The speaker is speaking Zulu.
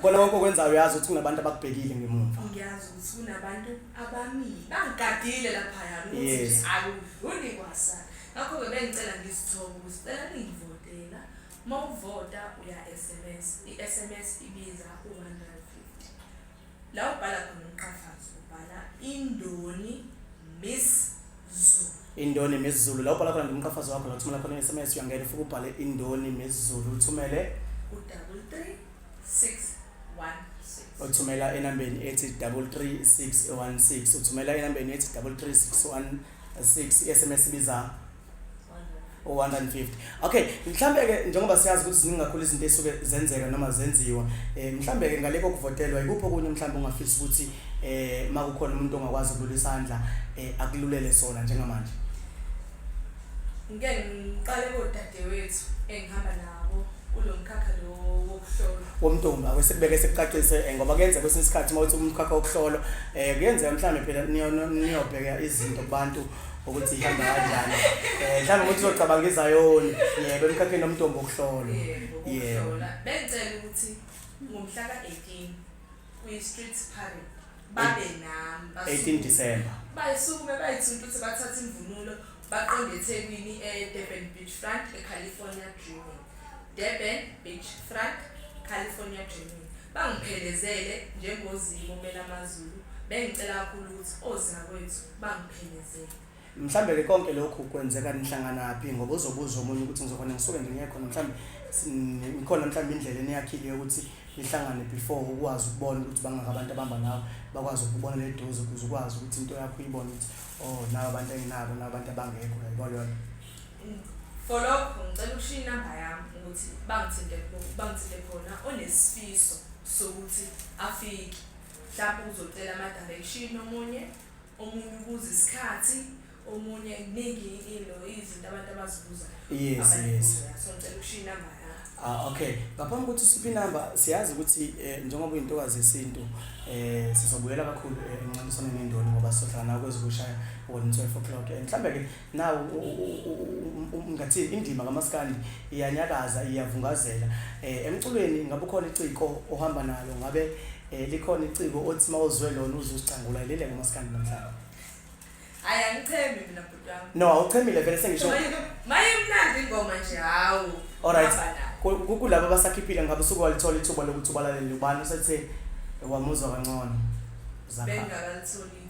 kona konke okwenzayo uyazi ukuthi kunabantu abakubhekile ngemuva ngiyazi ukuthi kunabantu abamile bangigadile laphaya ukuthi akudluli kwasa ngakho-ke bengicela ngizithobe ukuthi cela ningivotela uma uvota uya-sms i-sms ibiza u-one hundred fifty La ubhala khona umqhafazo ubhala indoni miss Zulu. Indoni Miss Zulu. La ubhala khona nje umqhafazo wakho la uthumela khona i-SMS uyangena ufike ubhale indoni Miss Zulu uthumele Udouble three six one six. uthumela enambeni ethi 33616 uthumela enambeni ethi 33616 i-SMS ibiza 150 okay mhlambe ke njengoba siyazi ukuthi ziningi kakhulu izinto esuke zenzeka noma zenziwa eh mhlambe ke ngaleko kuvotelwa ikuphi okunye mhlambe ungafisa ukuthi eh makukhona umuntu ongakwazi ukulula isandla eh akululele sona njengamanje ngike ngiqale kodadewethu engihamba nabo kulomkhakha lo wokuhlola womntombi awesekubeke sekucacise eh, ngoba kuyenza kwesinye isikhathi uma uthi umkhakha wokuhlola eh kuyenzeka mhlawumbe phela niyobheka izinto kubantu ukuthi ihamba kanjani um mhlawumbe ukuthi uzocabanga izayoni yebo emkhakheni omntombo okuhlolo yebo bengicela ukuthi ngomhla ka-eighteen kwi-street parade babe nami 18 December bayisukume bayithunta ukuthi bathathe imvunulo baqonde eThekwini eDurban Beach Front eCalifornia Dreaming Durban Beach Front California Dreaming bangiphelezele njengozimo mela amazulu bengicela kakhulu ukuthi ozakwethu bangiphelezele mhlambe ke konke lokhu kwenzeka nihlanganaphi ngoba uzobuza omunye ukuthi ngizokhona ngisuke ngingekho mhlambe ngikhona mhlambe indlela eniyakhile yokuthi nihlangane before ukwazi ukubona ukuthi bangaka abantu abamba nawe bakwazi ukubona le doze ukuze ukwazi ukuthi into yakho uyibone ukuthi oh nawe abantu enginabo nawe abantu abangekho yabo lona for lokho ngicela ukushiya inamba yami ukuthi bangithinte bangithinte khona onesifiso sokuthi afike mhlawumbe uzocela ama-direction omunye omunye ubuza isikhathi omunye kuningi ilo izinto abantu abazibuzayo yes yes so ngicela ukushiya inamba Ah okay. Ngaphambi kokuthi usiphe inamba siyazi ukuthi eh, njengoba uyintokazi yesintu eh sizobuyela kakhulu eh, encintiswaneni endoni ngoba sohlala nawe kwezokushaya wona 12 o'clock. Eh, Mhlambe ke Nawu ngathini indima kamaskandi iyanyakaza iyavungazela eh, emculweni ngabe ukhona iciko ohamba nalo ngabe eh, likhona iciko othi mawuzwe lona uzuzicangula ilele ngamaskandi namhlanje hayi angichemi mina bhuti wami no awuchemile vele sengisho maye mnandi ingoma nje hawu alright kulabo basakhiphile ngabe usuke walithola ithuba lokuthi ubalalele ubani usethe wamuzwa kangcono zakhe bengakalithola